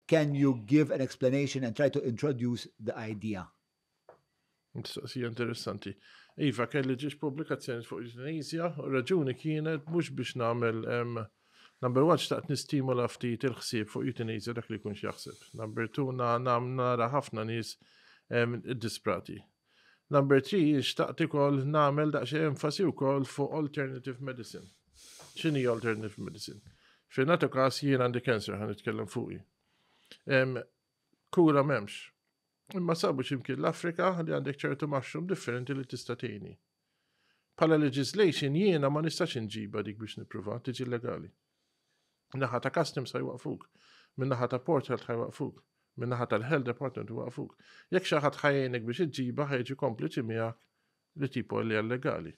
Can you give an explanation and try to introduce the idea? Mistoqsija interessanti. Iva, kelli ġiex publikazzjoni fuq il-Tunisia, u raġuni kienet mhux biex nagħmel Number one, xtaqt nistimula ftit il-ħsieb fuq euthanasia dak li kunx jaħseb. Number two, nara ħafna nies disprati. Number three, jien xtaqt ukoll nagħmel daqsxejn enfasi wkoll fuq alternative medicine. X'inhi alternative medicine? Fejn nagħtu każ jien għandi cancer ħan nitkellem fuqi. Kura m'hemmx. Imma sabu x'imkien l-Afrika li għandek ċertu mushroom differenti li tista' tgħini. Bħala legislation jiena ma nistax inġiba dik biex nipprova tiġi legali. Naħa ta' customs ħajwaqfuk, minn naħa ta' port health ħajwaqfuk, minn naħa tal-health department waqfuk. Jekk xi ħadd ħajjejnek biex iġġiba ħajġi kompliċi miegħek li tipo li legali.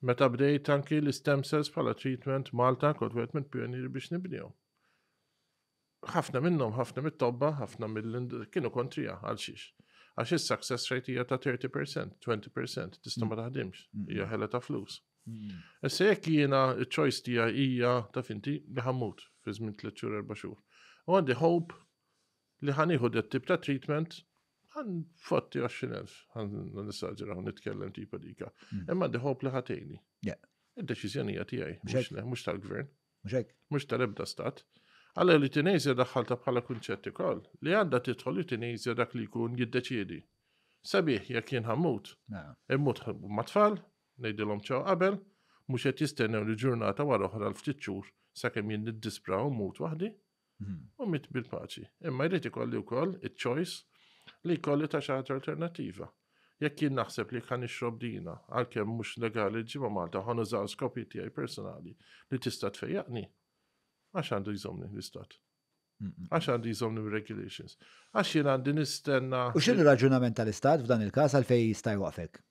Meta bdejt anki l-stem cells bħala treatment Malta kont wieħed mill-pioniri biex nibnihom. Ħafna minnhom, ħafna mit-tobba, ħafna mill kienu kontriha għal xiex. Għax is-success rate hija ta' 30%, 20%, tista' ma taħdimx, hija ħela ta' flus. Issa jekk jiena ċ-choice tiegħi hija ta' finti li ħammut fi żmien tliet xhur erba' xhur. U għandi hope li ħanieħu dat tip ta' treatment għan fotti għaxin elf, għan nisagġera għan nitkellem tipa dika. Mm. Imma għandi hope li ħatejni. Id-deċizjoni għatijaj, mux tal-gvern. Mhux hekk? Mhux tal-ebda stat. Alla l-eutinejżja daħħaltha bħala kunċett ukoll, li għandha tidħol l-eutinejżja dak li jkun jiddeċiedi. Sabiħ jekk jien ħammut. Mela. Immut ma' tfal, ngħidilhom ċaw qabel, mhux qed jistennew li ġurnata wara oħra l-ftit xhur sakemm jien niddispraw mut waħdi. u mitt bil-paċi. Imma jrid ikolli wkoll iċ-choice li jkolli ta' xi ħaġa alternattiva. Jekk jien naħseb li kan nixrob dina għalkemm mhux legali ġibha Malta ħa nuża l-skopijiet tiegħi personali li tista' tfejjaqni. Għax għandu jżommni l-istat? Għax għandu jżommni mir-regulations? Għax jien għandi nistenna. U x'inhu raġunament tal-istat f'dan il-każ għalfejn jista' jwaqfek?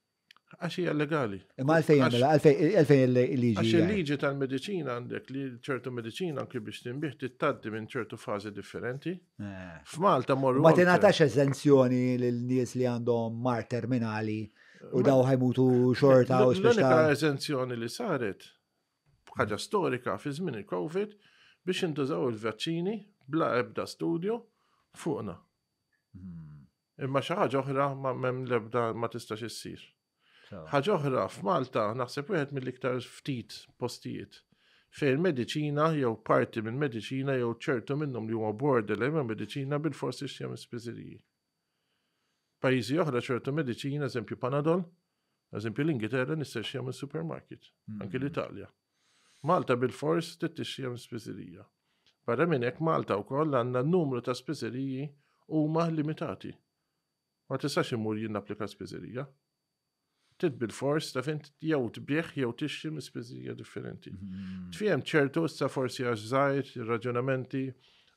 Għax hija legali. Imma għalfejn jagħmilha, għalfejn il-liġi. Għax il-liġi tal-mediċina għandek li ċertu mediċina anki biex tinbih tittaddi minn ċertu fażi differenti. Eh. F'Malta morru. Ma tingħatax eżenzjoni lil nies li għandhom mar terminali u daw ħajmutu xorta u speċta. L-unika eżenzjoni li saret ħaġa storika fi żmien il-COVID biex intużaw il-vaċċini bla ebda studju fuqna. Hmm. Imma xi ħaġa oħra ma m'hemm l-ebda ma tistax issir. Ħaġa oħra f'Malta naħseb wieħed mill-iktar ftit postijiet fejn mediċina jew parti minn mediċina jew ċertu minnhom li huma borderline ma' mediċina bil-forsi x'jem spiżeriji. Pajjiżi oħra ċertu mediċina, eżempju Panadol, eżempju l-Ingilterra nista' x'jem supermarket, anke mm. l-Italja. Mm. Malta bilfors trid tixjemm spiżerija. Barra minn hekk Malta wkoll għandha numru ta' spiżeriji huma limitati. Ma tistax immur jien napplika spiżerija. Trid bilfors taf int jew tbigħ jew tixxi minn spiżerija differenti. Mm-hmm. Tfiem ċertu issa forsi għax żgħir, ir-raġunamenti,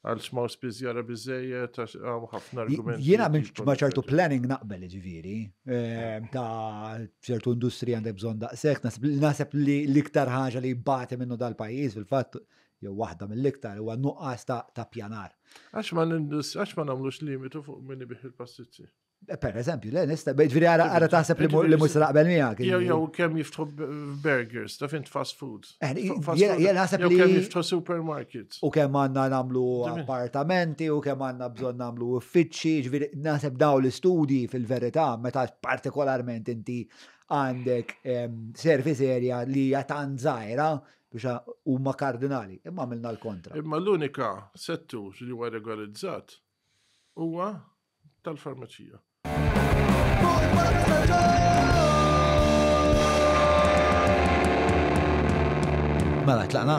Għalx ma' spiżjara biżejjed, għax hawn ħafna argumenti. Jiena minn ma' ċertu planning naqbel ġifieri ehm, ta' ċertu industrija għandek bżonn daqshekk, naħseb li l-iktar ħaġa li jbati minnu dal-pajjiż fil-fatt jew waħda mill-iktar huwa nuqqas ta' pjanar. Għax ma nagħmlux limitu fuq min ibih il-passiġġi. Per eżempju, le nista' bejt veri għara għara taħseb li mhux se naqbel miegħek. Jew jew kemm jiftħu burgers, ta' fint fast food. Eh, jien naħseb li kemm jiftħu supermarkets. U kemm għandna nagħmlu appartamenti u kemm għandna bżonn nagħmlu uffiċċji, ġifieri naħseb daw l-istudji fil-verità meta partikolarment inti għandek ehm, service area li hija tan żgħira biex huma kardinali, imma għamilna l-kontra. Imma l-unika settur li huwa regolarizzat huwa tal-farmaċija. Mela, tlaqna?